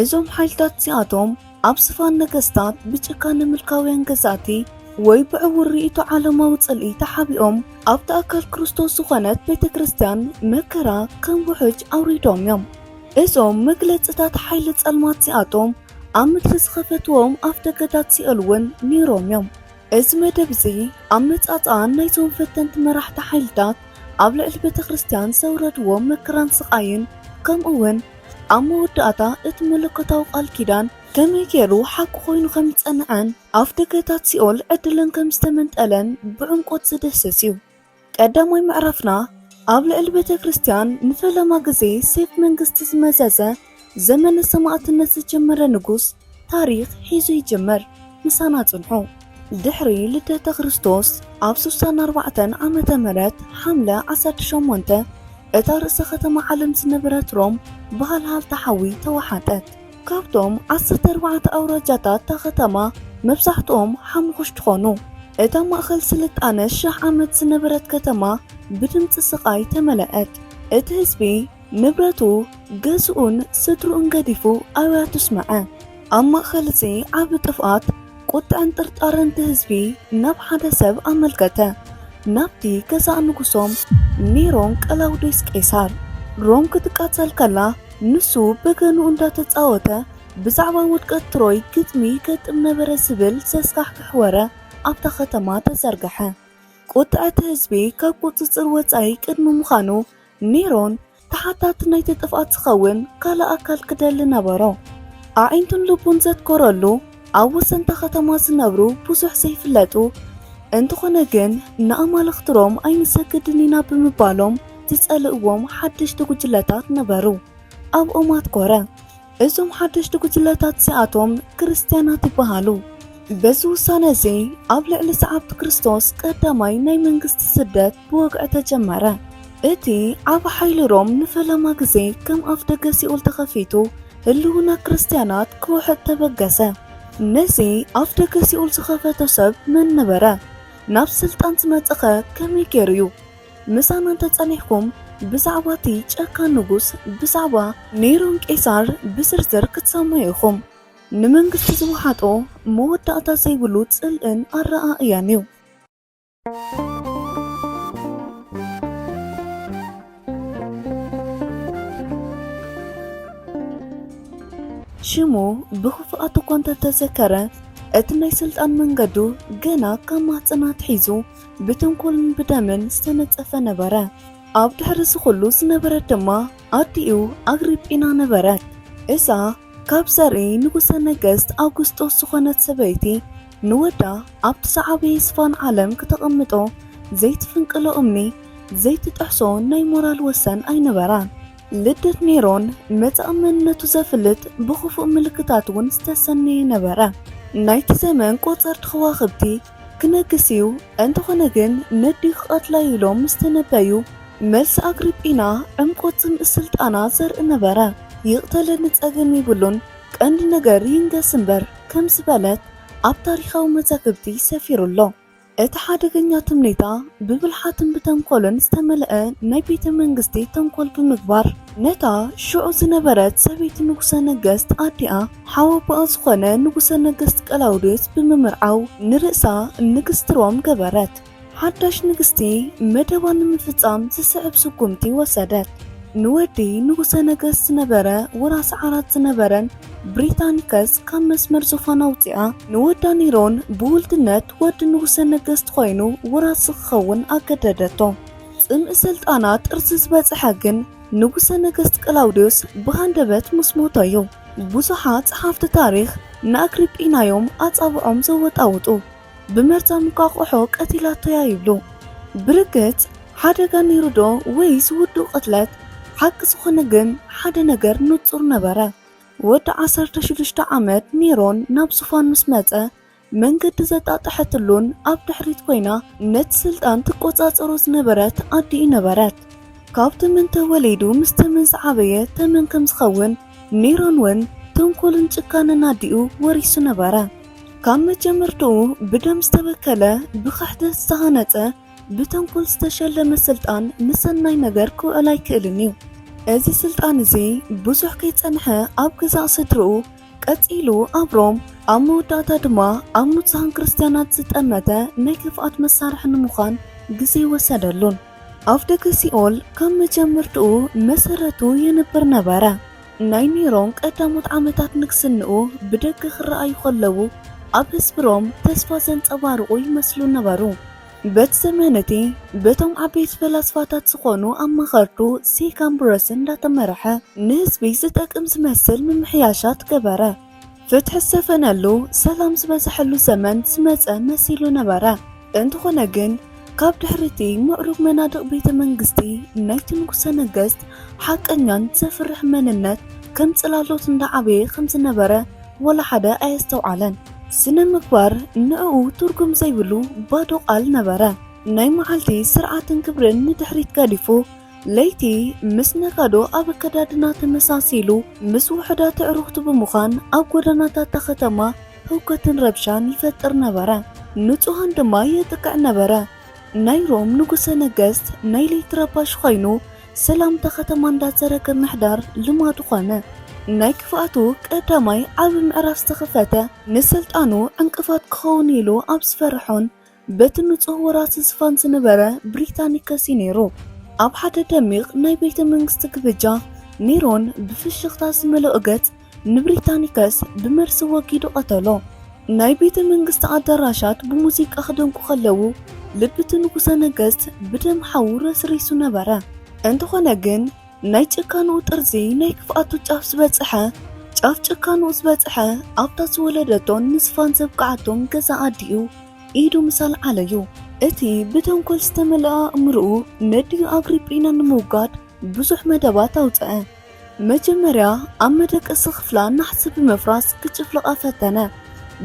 እዞም ሓይልታት እዚኣቶም ኣብ ስፋን ነገስታት ብጭካነ ምልካውያን ገዛእቲ ወይ ብዕውር ርእይቶ ዓለማዊ ጽልኢ ተሓቢኦም ኣብቲ ኣካል ክርስቶስ ዝኾነት ቤተ ክርስቲያን መከራ ከም ውሕጅ ኣውሪዶም እዮም። እዞም መግለጽታት ሓይሊ ጸልማት እዚኣቶም ኣብ ምድሪ ዝኸፈትዎም ኣፍደገታት ሲኦል እውን ነይሮም እዮም። እዚ መደብ እዚ ኣመጻጽኣን ናይዞም ፈተንቲ መራሕቲ ሓይልታት ኣብ ልዕሊ ቤተ ክርስቲያን ዘውረድዎ መከራን ስቓይን ከምኡውን ኣብ መወዳእታ እቲ መለኮታዊ ቃል ኪዳን ከመይ ገይሩ ሓቂ ኮይኑ ከም ዝጸንዐን ኣፍደገታት ሲኦል ዕድለን ከም ዝተመንጠለን ብዕምቆት ዝድህስስ እዩ። ቀዳማይ ምዕራፍና ኣብ ልዕሊ ቤተ ክርስቲያን ንፈለማ ግዜ ሴፍ መንግስቲ ዝመዘዘ ዘመነ ሰማእትነት ዝጀመረ ንጉስ ታሪኽ ሒዙ ይጅምር ምሳና ጽንሑ። ድሕሪ ልደተ ክርስቶስ ኣብ ስሳን ኣርባዕተን ዓመተ ምህረት ሓምለ ዓሰርተ ሸሞንተ እታ ርእሰ ከተማ ዓለም ዝነበረት ሮም ብሃልሃልታ ሓዊ ተዋሓጠት። ካብቶም ዓሰርተ ኣርባዕተ ኣውራጃታት እታ ከተማ መብዛሕትኦም ሓሙኹሽቲ ኾኑ። እታ ማእኸል ስልጣነ ሽሕ ዓመት ዝነበረት ከተማ ብድምጺ ስቓይ ተመለኣት። እቲ ህዝቢ። ንብረቱ፣ ገዝኡን ስድርኡን ገዲፉ ኣብያቱ ስመዐ። ኣብ ማእኸል እዚ ዓቢ ጥፍኣት፣ ቁጥዐን ጥርጣረን እቲ ህዝቢ ናብ ሓደ ሰብ ኣመልከተ፣ ናብቲ ገዛእ ንጉሶም ኔሮን ቀላውዴስ ቄሳር። ሮም ክትቃፀል ከላ ንሱ በገንኡ እንዳተፃወተ ብዛዕባ ውድቀት ትሮይ ግጥሚ ይገጥም ነበረ ዝብል ዘስካሕክሕ ወረ ኣብታ ከተማ ተዘርገሐ። ቁጥዐ እቲ ህዝቢ ካብ ቁፅፅር ወፃኢ ቅድሚ ምዃኑ ሜሮን ተሓታቲ ናይቲ ጥፍኣት ዝኸውን ካልእ ኣካል ክደሊ ነበሮ። ኣዒንቱን ልቡን ዘትኮረሉ ኣብ ወሰንታ ከተማ ዝነብሩ ብዙሕ ዘይፍለጡ እንተኾነ ግን ንኣማልኽቲ ሮም ኣይንሰግድን ኢና ብምባሎም ዝጸልእዎም ሓደሽቲ ጉጅለታት ነበሩ። ኣብኦም ኣትኮረ። እዞም ሓደሽቲ ጉጅለታት እዚኣቶም ክርስትያናት ይበሃሉ። በዚ ውሳነ እዚ ኣብ ልዕሊ ሰዓብቲ ክርስቶስ ቀዳማይ ናይ መንግስቲ ስደት ብወግዒ ተጀመረ። እቲ ዓቢ ሓይሊ ሮም ንፈለማ ግዜ ከም ኣፍደገ ሲኦል ተኸፊቱ ህልውና ክርስትያናት ክውሕጥ ተበገሰ። ነዚ ኣፍደገ ሲኦል ዝኸፈቶ ሰብ መን ነበረ? ናብ ስልጣን ዝመጸኸ ከመይ ገይሩ እዩ? ምሳና እንተጸኒሕኩም ብዛዕባ እቲ ጨካን ንጉስ ብዛዕባ ኔሮን ቄሳር ብዝርዝር ክትሰምዑ ኢኹም። ንመንግስቲ ዝወሓጦ መወዳእታ ዘይብሉ ጽልእን ኣረኣእያን እዩ። ሽሙ ብኽፉኣት እኳ እንተተዘከረ እቲ ናይ ስልጣን መንገዱ ገና ካብ ማህጸና ኣትሒዙ ብተንኮልን ብደምን ዝተነጸፈ ነበረ። ኣብ ድሕሪ እዚ ኹሉ ዝነበረት ድማ ኣዲኡ ኣግሪጲና ነበረት። እዛ ካብ ዘርኢ ንጉሠ ነገሥት ኣውግስጦስ ዝኾነት ሰበይቲ ንወዳ ኣብቲ ዝዓበየ ስፋን ዓለም ክተቐምጦ ዘይትፍንቅሎ እምኒ ዘይትጥሕሶ ናይ ሞራል ወሰን ኣይነበራን። ልደት ኔሮን መጻኢ መንነቱ ዘፍልጥ ብኽፉእ ምልክታት እውን ዝተሰነየ ነበረ። ናይቲ ዘመን ቆጸርቲ ኸዋኽብቲ ክነግስ እዩ፣ እንተኾነ ግን ነዲኡ ክቐትላ እዩ ኢሎም ምስ ተነበዩ፣ መልሲ ኣግሪጲና ዕምቆት ጽምኢ ስልጣና ዘርኢ ነበረ። ይቕተለኒ ጸገም የብሉን፣ ቀንዲ ነገር ይንገስ እምበር ከም ዝበለት ኣብ ታሪኻዊ መዛግብቲ ሰፊሩ ኣሎ። እቲ ሓደገኛ ትምኒታ ብብልሓትን ብተንኮልን ዝተመልአ ናይ ቤተ መንግስቲ ተንኮል ብምግባር ነታ ሽዑ ዝነበረት ሰበይቲ ንጉሰ ነገስት ኣዲኣ፣ ሓው ኣቦኣ ዝኾነ ንጉሰ ነገስት ቀላውዴዎስ ብምምርዓው ንርእሳ ንግስቲ ሮም ገበረት። ሓዳሽ ንግስቲ መደባ ንምፍጻም ዝስዕብ ስጉምቲ ወሰደት። ንወዲ ንጉሰ ነገስት ዝነበረ ወራሲ ዓራት ዝነበረን ብሪታኒከስ ካብ መስመር ዙፋን ኣውጺኣ ንወዳ ኒሮን ብውልድነት ወዲ ንጉሰ ነገስት ኮይኑ ወራሲ ክኸውን ኣገደደቶ። ጽምኢ ስልጣና ጥርዚ ዝበጽሐ ግን ንጉሰ ነገስት ቀላውዴዎስ ብሃንደበት ምስ ሞተ'ዩ። ብዙሓት ጸሓፍቲ ታሪኽ ንኣግሪጲና'ዮም ኣጻብዖም ዘወጣውጡ። ብመርዛ እንቋቑሖ ቀቲላቶ'ያ ይብሉ። ብርግጽ ሓደጋ ነይሩ'ዶ ወይስ ውዱእ ቅትለት? ሓቂ ዝኾነ ግን ሓደ ነገር ንጹር ነበረ። ወዲ ዓሰርተ ሽዱሽተ ዓመት ኔሮን ናብ ዙፋን ምስ መጸ፣ መንገዲ ዘጣጠሐትሉን ኣብ ድሕሪት ኮይና ነቲ ስልጣን ትቆጻጸሮ ዝነበረት ኣዲኡ ነበረት። ካብ ተመን ተወሊዱ ምስ ተመን ዝዓበየ ተመን ከም ዝኸውን ኒሮን ውን ተንኮልን ጭካነን ኣዲኡ ወሪሱ ነበረ። ካብ መጀመርትኡ ብደም ዝተበከለ፣ ብክሕደት ዝተሃነጸ፣ ብተንኮል ዝተሸለመ ስልጣን ንሰናይ ነገር ክውዕል ኣይክእልን እዩ። እዚ ስልጣን እዚ ብዙሕ ከይጸንሐ ኣብ ገዛእ ስድርኡ፣ ቀጺሉ ኣብ ሮም፣ ኣብ መወዳእታ ድማ ኣብ ንጹሃን ክርስትያናት ዝጠመተ ናይ ክፍኣት መሳርሒ ንምዃን ግዜ ወሰደሉን። ኣፍደገ ሲኦል ካብ መጀመርትኡ መሰረቱ የንብር ነበረ። ናይ ኔሮን ቀዳሞት ዓመታት ንግስንኡ ብደገ ክረኣዩ ከለዉ ኣብ ህዝቢ ሮም ተስፋ ዘንጸባርቑ ይመስሉ ነበሩ። በቲ ዘመን እቲ በቶም ዓበይቲ ፈላስፋታት ዝኾኑ ኣማኸርቱ ሴካን ብረስን እንዳተመረሐ ንህዝቢ ዝጠቅም ዝመስል ምምሕያሻት ገበረ። ፍትሒ ዝሰፈነሉ፣ ሰላም ዝበዘሐሉ ዘመን ዝመጸ መሲሉ ነበረ። እንተኾነ ግን ካብ ድሕሪ እቲ ምዕሩግ መናድቕ ቤተ መንግስቲ ናይቲ ንጉሰ ነገስት ሓቀኛን ዘፍርሕን መንነት ከም ጽላሎት እንዳዓበየ ከም ዝነበረ ወላ ሓደ ኣየስተውዓለን። ስነ ምግባር ንዕኡ ትርጉም ዘይብሉ ባዶ ቃል ነበረ። ናይ መዓልቲ ስርዓትን ክብርን ንድሕሪት ገዲፉ፣ ለይቲ ምስ ነጋዶ ኣብ ኣከዳድና ተመሳሲሉ፣ ምስ ውሑዳት ኣዕሩኽቱ ብምዃን ኣብ ጎደናታት እታ ከተማ ህውከትን ረብሻን ይፈጥር ነበረ። ንጹሃን ድማ የጥቅዕ ነበረ። ናይ ሮም ንጉሰ ነገስት ናይ ለይቲ ረባሺ ኮይኑ ሰላምታ ከተማ እንዳዘረገ ምሕዳር ልማዱ ኮነ። ናይ ክፍኣቱ ቀዳማይ ዓቢ ምዕራፍ ዝተኸፈተ ንስልጣኑ ዕንቅፋት ክኸውን ኢሉ ኣብ ዝፈረሖን በቲ ንጹህ ወራሲ ዝፋን ዝነበረ ብሪታኒከስ እዩ ነይሩ። ኣብ ሓደ ደሚቕ ናይ ቤተ መንግስቲ ግብጃ ኔሮን ብፍሽኽታ ዝመለኦ ገጽ ንብሪታኒከስ ብመርሲ ወጊዱ ቀተሎ። ናይ ቤተ መንግስቲ ኣዳራሻት ብሙዚቃ ክደምቁ ከለዉ፣ ልቢ'ቲ ንጉሰ ነገስት ብደም ሓዉ ረስሪሱ ነበረ። እንተኾነ ግን ናይ ጭካንኡ ጥርዚ ናይ ክፍኣቱ ጫፍ ዝበጸሐ፣ ጫፍ ጭካንኡ ዝበጸሐ ኣብታ ዝወለደቶን ንስፋን ዘብቅዓቶን ገዛ ኣዲኡ ኢዱ ምስ ኣልዓለ'ዩ። እቲ ብተንኮል ዝተመልኣ ኣእምሮኡ ነዲኡ ኣግሪጲና ንምውጋድ ብዙሕ መደባት ኣውጸኣ። መጀመርያ ኣብ መደቀሲ ክፍላ ናሕሲ ብምፍራስ ክጭፍልቓ ፈተነ።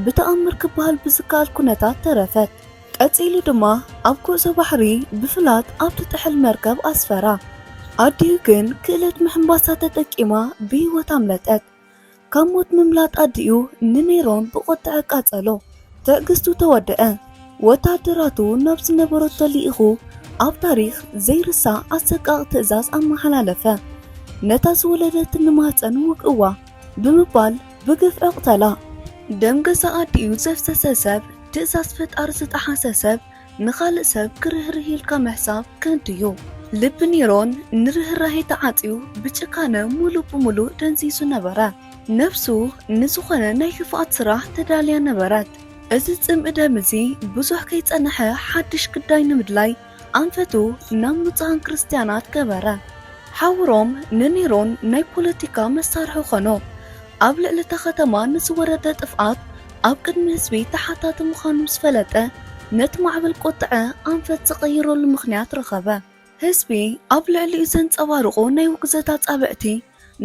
ብተኣምር ክበሃል ብዝከኣል ኩነታት ተረፈት። ቀጺሉ ድማ ኣብ ጉዕዞ ባሕሪ ብፍላጥ ኣብ ትጥሕል መርከብ ኣስፈራ። ኣዲኡ ግን ክእለት ምሕንባሳ ተጠቂማ ብህይወት ኣምለጠት። ካብ ሞት ምምላጥ ኣዲኡ ንሜሮን ብቁጥዐ ኣቃጸሎ። ትዕግስቱ ተወደኣ። ወተሃደራቱ ናብ ዝነበረቶ ልኢኹ ኣብ ታሪኽ ዘይርሳዕ ኣሰቃቂ ትእዛዝ ኣመሓላለፈ። ነታ ዝወለደት ንማህጸን ውግእዋ ብምባል ብግፍዒ ቅተላ። ደም ገዛእ ኣዲኡ ዘፍሰሰ ሰብ፣ ትእዛዝ ፈጣሪ ዝጠሓሰ ሰብ፣ ንኻልእ ሰብ ክርህርህ ኢልካ ምሕሳብ ከንቱ እዩ። ልቢ ኔሮን ንርህራሄ ተዓጽዩ ብጭካነ ሙሉእ ብሙሉእ ደንዚዙ ነበረ። ነፍሱ ንዝኾነ ናይ ክፍኣት ስራሕ ተዳልያ ነበረት። እዚ ጽምኢ ደም እዚ ብዙሕ ከይጸነሐ ሓድሽ ግዳይ ንምድላይ ኣንፈቱ ናብ ንጹሃን ክርስትያናት ገበረ። ሓውሮም ንኔሮን ናይ ፖለቲካ መሳርሒ ኾኖ። ኣብ ልዕሊ እታ ከተማ ንዝወረደ ጥፍኣት ኣብ ቅድሚ ህዝቢ ተሓታቲ ምዃኑ ምስ ፈለጠ፣ ነቲ ማዕበል ቁጥዐ ኣንፈት ዝቐይረሉ ምኽንያት ረኸበ። ህዝቢ ኣብ ልዕሊኡ ዘንጸባርቑ ናይ ውግዘት ኣጻብዕቲ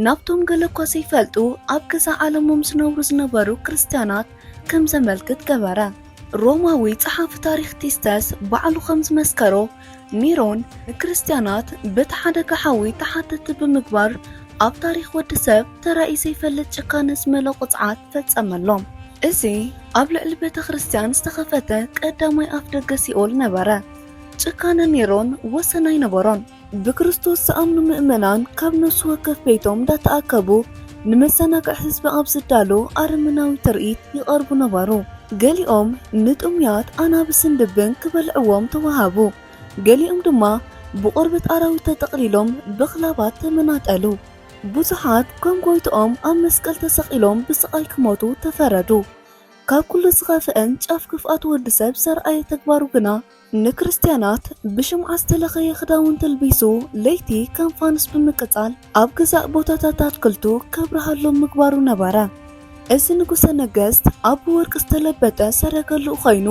ናብቶም ገለ እኳ ዘይፈልጡ ኣብ ገዛእ ዓለሞም ዝነብሩ ዝነበሩ ክርስትያናት ከም ዘመልክት ገበረ። ሮማዊ ጸሓፊ ታሪኽ ቲስተስ ባዕሉ ከም ዝመስከሮ፣ ሚሮን ንክርስትያናት በቲ ሓደጋ ሓዊ ተሓተቲ ብምግባር ኣብ ታሪኽ ወዲ ሰብ ተራእዩ ዘይፈልጥ ጭካነ ዝመሎ ቅፅዓት ፈጸመሎም። እዚ ኣብ ልዕሊ ቤተ ክርስቲያን ዝተኸፈተ ቀዳማይ ኣፍ ደገ ሲኦል ነበረ። ጭካነ ኔሮን ወሰን ኣይነበሮን። ብክርስቶስ ዝኣምኑ ምእመናን ካብ ነፍሲ ወከፍ ቤቶም እንዳተኣከቡ ንመዘናግዒ ህዝቢ ኣብ ዝዳሎ ኣረመናዊ ትርኢት ይቐርቡ ነበሩ። ገሊኦም ንጥሙያት ኣናብስን ድብን ክበልዕዎም ተዋሃቡ፣ ገሊኦም ድማ ብቆርበት ኣራዊት ተጠቕሊሎም ብኽላባት ተመናጠሉ። ብዙሓት ከም ጎይትኦም ኣብ መስቀል ተሰቒሎም ብስቓይ ክሞቱ ተፈረዱ። ካብ ኩሉ ዝኸፍአን ጫፍ ክፍኣት ወዲ ሰብ ዘርኣየ ተግባሩ ግና ንክርስትያናት ብሽምዓ ዝተለኸየ ክዳውንቲ ኣልቢሱ ለይቲ ከም ፋኑስ ብምቅጻል ኣብ ገዛእ ቦታታት ኣትክልቱ ከብርሃሎም ምግባሩ ነበረ። እዚ ንጉሠ ነገሥት ኣብ ብወርቂ ዝተለበጠ ሰረገልኡ ኸይኑ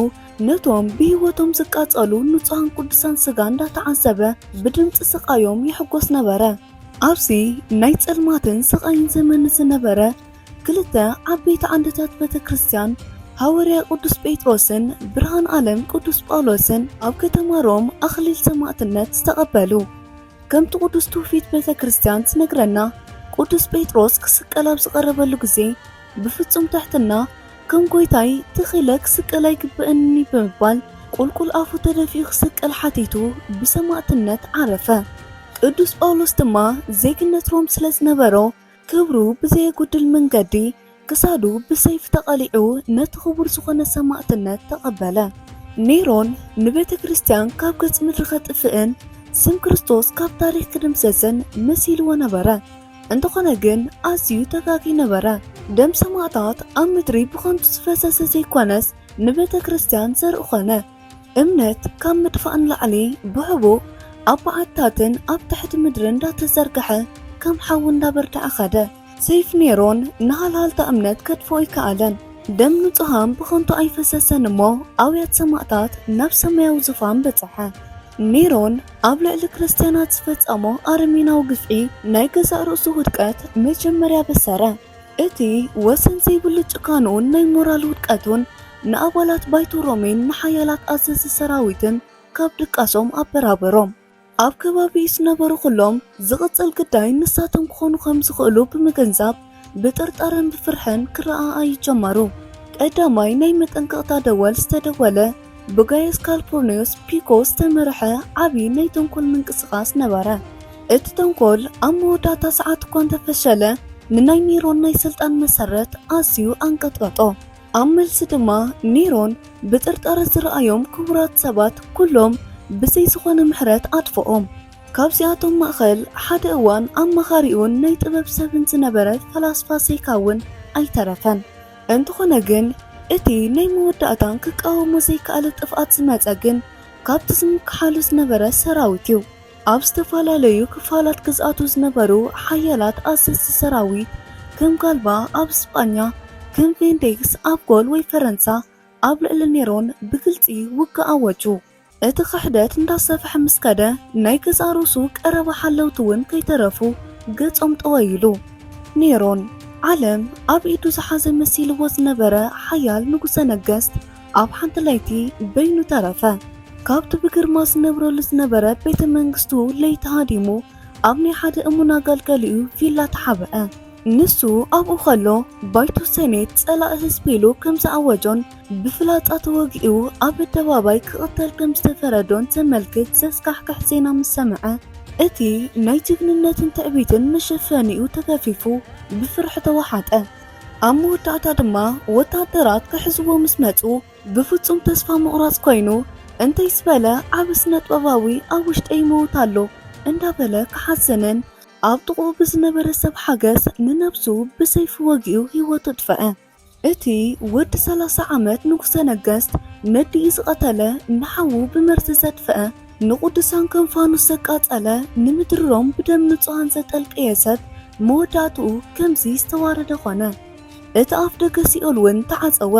ነቶም ብሕይወቶም ዝቃጸሉ ንጹሃን ቅዱሳን ሥጋ እንዳተዓዘበ ብድምጺ ሥቃዮም ይሕጐስ ነበረ። ኣብዚ ናይ ጸልማትን ሥቃይን ዘመን ዝነበረ ክልተ ዓበይቲ ዓንድታት ቤተ ክርስቲያን ሃወርያ ቅዱስ ጴጥሮስን ብርሃን ዓለም ቅዱስ ጳውሎስን ኣብ ከተማ ሮም ኣኽሊል ሰማዕትነት ዝተቐበሉ። ከምቲ ቅዱስ ትውፊት ቤተ ክርስቲያን ትነግረና ቅዱስ ጴጥሮስ ክስቀል ኣብ ዝቐረበሉ ግዜ ብፍጹም ትሕትና ከም ጎይታይ ትኽ ኢለ ክስቀል ኣይግብእንኒ ብምባል ቁልቁል ኣፉ ተደፊኡ ክስቀል ሓቲቱ ብሰማዕትነት ዓረፈ። ቅዱስ ጳውሎስ ድማ ዜግነት ሮም ስለ ዝነበሮ ክብሩ ብዘየጉድል መንገዲ ክሳዱ ብሰይፍ ተቐሊዑ ነቲ ክቡር ዝኾነ ሰማእትነት ተቐበለ። ኔሮን ንቤተ ክርስቲያን ካብ ገጽ ምድሪ ከጥፍእን ስም ክርስቶስ ካብ ታሪኽ ክድምሰስን መሲልዎ ነበረ። እንተኾነ ግን ኣዝዩ ተጋጊ ነበረ። ደም ሰማእታት ኣብ ምድሪ ብኸንቱ ዝፈሰሰ ዘይኮነስ ንቤተ ክርስቲያን ዘርኢ ኾነ። እምነት ካብ ምጥፋእ ንላዕሊ ብሕቡእ ኣብ በዓትታትን ኣብ ትሕቲ ምድርን እንዳተዘርግሐ ከም ሓዊ እንዳበርተዐ ከደ። ሰይፍ ኔሮን ንሃልሃልታ እምነት ከጥፍኦ ኣይከኣለን። ደም ንጹሃን ብኸንቱ ኣይፈሰሰን እሞ ኣውያት ሰማእታት ናብ ሰማያዊ ዙፋን በጽሐ። ኔሮን ኣብ ልዕሊ ክርስትያናት ዝፈጸሞ ኣረሜናዊ ግፍዒ ናይ ገዛእ ርእሱ ውድቀት መጀመርያ ኣበሰረ። እቲ ወሰን ዘይብሉ ጭካንኡን ናይ ሞራል ውድቀቱን ንኣባላት ባይቶ ሮሜን ንሓያላት ኣዘዝቲ ሰራዊትን ካብ ድቃሶም ኣበራበሮም። ኣብ ከባቢኡ ዝነበሩ ዅሎም ዝቕጽል ግዳይ ንሳቶም ክዀኑ ኸም ዝኽእሉ ብምግንዛብ ብጥርጣረን ብፍርሕን ክረኣኣዩ ጀመሩ። ቀዳማይ ናይ መጠንቀቕታ ደወል ዝተደወለ። ብጋየስ ካልፑርንዮስ ፒኮ ዝተመርሐ ዓቢ ናይ ተንኮል ምንቅስቓስ ነበረ። እቲ ተንኮል ኣብ መወዳእታ ሰዓት እኳ እንተ ፈሸለ፣ ንናይ ኔሮን ናይ ስልጣን መሰረት ኣዝዩ ኣንቀጥቀጦ። ኣብ መልሲ ድማ ኔሮን ብጥርጣረ ዝረኣዮም ክቡራት ሰባት ኩሎም ብዘይ ዝኾነ ምሕረት ኣጥፍኦም። ካብዚኣቶም ማእከል ሓደ እዋን ኣማኻሪኡን ናይ ጥበብ ሰብን ዝነበረ ፈላስፋ ሴካ እውን ኣይተረፈን። እንተኾነ ግን እቲ ናይ መወዳእታን ክቃወሞ ዘይከኣለ ጥፍኣት ዝመጸ ግን ካብቲ ዝምክሓሉ ዝነበረ ሰራዊት እዩ። ኣብ ዝተፈላለዩ ክፋላት ግዝኣቱ ዝነበሩ ሓያላት ኣዘዝቲ ሰራዊት ከም ጋልባ ኣብ ስጳኛ ከም ቬንዴክስ ኣብ ጎል ወይ ፈረንሳ ኣብ ልዕሊ ኔሮን ብግልጺ ውግእ ኣወጁ። እቲ ክሕደት እንዳሰፍሐ ምስ ከደ ናይ ገዛእ ርእሱ ቀረባ ሓለውቲ ውን ከይተረፉ ገጾም ጠወይ ኢሉ። ኔሮን ዓለም ኣብ ኢዱ ዝሓዘ መሲልዎ ዝነበረ ሓያል ንጉሰ ነገስት ኣብ ሓንቲ ለይቲ በይኑ ተረፈ። ካብቲ ብግርማ ዝነብረሉ ዝነበረ ቤተ መንግስቱ ለይቲ ሃዲሙ ኣብ ናይ ሓደ እሙን ኣገልጋሊኡ ቪላ ተሓብአ። ንሱ ኣብኡ ከሎ ባይቶ ሰኔት ጸላኢ ህዝቢ ኢሉ ከም ዝኣወጆን፣ ብፍላጻ ተወጊኡ ኣብ ኣደባባይ ክቕተል ከም ዝተፈረዶን ዘመልክት ዘስካሕክሕ ዜና ምስ ሰምዐ፣ እቲ ናይ ጅግንነትን ትዕቢትን መሸፈኒኡ ተገፊፉ ብፍርሒ ተዋሓጠ። ኣብ መወዳእታ ድማ ወተሃደራት ክሕዝዎ ምስ መጹ ብፍጹም ተስፋ ምቑራጽ ኮይኑ፣ እንተይስ በለ ዓቢ ስነጥበባዊ ኣብ ውሽጠይ ይመውት ኣሎ እንዳበለ ክሓዝንን ኣብ ጥቕኡ ብዝነበረ ሰብ ሓገዝ ንነብሱ ብሰይፊ ወጊኡ ህይወቱ ኣጥፈኣ። እቲ ወዲ ሰላሳ ዓመት ንጉሰ ነገስት ነዲኡ ዝቐተለ፣ ንሓዉ ብመርዚ ዘጥፍኣ፣ ንቑዱሳን ከም ፋኑስ ዘቃጸለ፣ ንምድሪ ሮም ብደም ንጹሃን ዘጠልቀየ ሰብ መወዳእትኡ ከምዚ ዝተዋረደ ኮነ። እቲ ኣፍደገ ሲኦል ውን ተዓጸወ።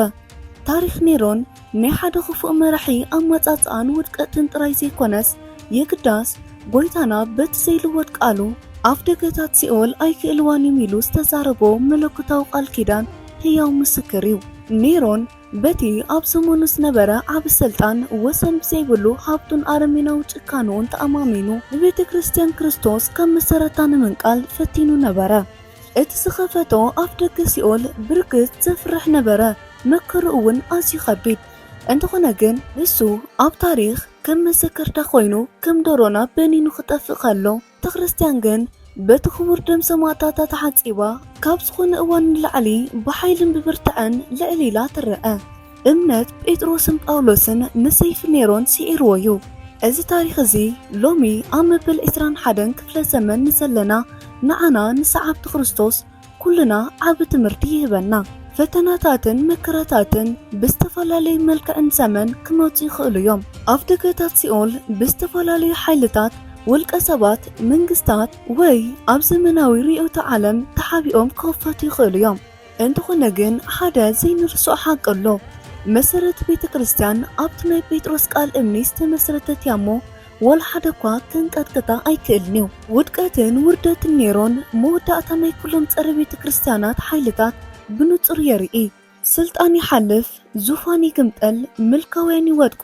ታሪኽ ኔሮን ናይ ሓደ ኽፉእ መራሒ ኣማጻጽኣን ውድቀትን ጥራይ ዘይኮነስ፣ የግዳስ፣ ጐይታና በቲ ዘይልወጥ ቃሉ፣ ኣፍደገታት ሲኦል ኣይክእልዋን እዮም ኢሉ ዝተዛረቦ መለኮታዊ ቃል ኪዳን ህያው ምስክር እዩ። ኔሮን በቲ ኣብ ዘመኑ ዝነበረ ዓቢ ስልጣን፣ ወሰን ብዘይብሉ ሃብቱን ኣረሜናዊ ጭካነኡን ተኣማሚኑ ንቤተ ክርስትያን ክርስቶስ ካብ መሰረታ ንምንቃል ፈቲኑ ነበረ። እቲ ዝኸፈቶ ኣፍደገ ሲኦል ብርግጽ ዘፍርሕ ነበረ፣ መከርኡ እውን ኣዝዩ ከቢድ። እንተኾነ ግን ንሱ ኣብ ታሪኽ ከም መዘከርታ ኮይኑ ከም ዶሮ ናብ በኒኑ ክጠፍእ ከሎ ተክርስቲያን ግን በቲ ክቡር ደም ሰማእታታ ተሓጺባ ካብ ዝኾነ እዋን ንላዕሊ ብሓይልን ብብርትዐን ልዕል ኢላ ትረኣ። እምነት ጴጥሮስን ጳውሎስን ንሰይፊ ኔሮን ስዒርዎ እዩ። እዚ ታሪኽ እዚ ሎሚ ኣብ መበል ዕስራን ሓደን ክፍለ ዘመን ንዘለና ንዓና ንሰዓብቲ ክርስቶስ ኩልና ዓቢ ትምህርቲ ይህበና። ፈተናታትን መከራታትን ብዝተፈላለዩ መልክዕን ዘመን ክመጹ ይኽእሉ እዮም። ኣፍደገታት ሲኦል ብዝተፈላለዩ ሓይልታት፣ ውልቀ ሰባት፣ መንግስታት፣ ወይ ኣብ ዘመናዊ ርእዮተ ዓለም ተሓቢኦም ክኽፈቱ ይኽእሉ እዮም። እንተኾነ ግን ሓደ ዘይንርስዖ ሓቂ ኣሎ። መሰረት ቤተ ክርስቲያን ኣብቲ ናይ ጴጥሮስ ቃል እምኒ ዝተመስረተት እያ እሞ ዋላ ሓደ እኳ ከንቀጥቅጣ ኣይክእልን እዩ። ውድቀትን ውርደትን ኔሮን መወዳእታ ናይ ኩሎም ጸረ ቤተ ክርስቲያናት ሓይልታት ብንጹር የርኢ። ስልጣን ይሓልፍ፣ ዙፋን ይግምጠል፣ ምልካውያን ይወድቁ፣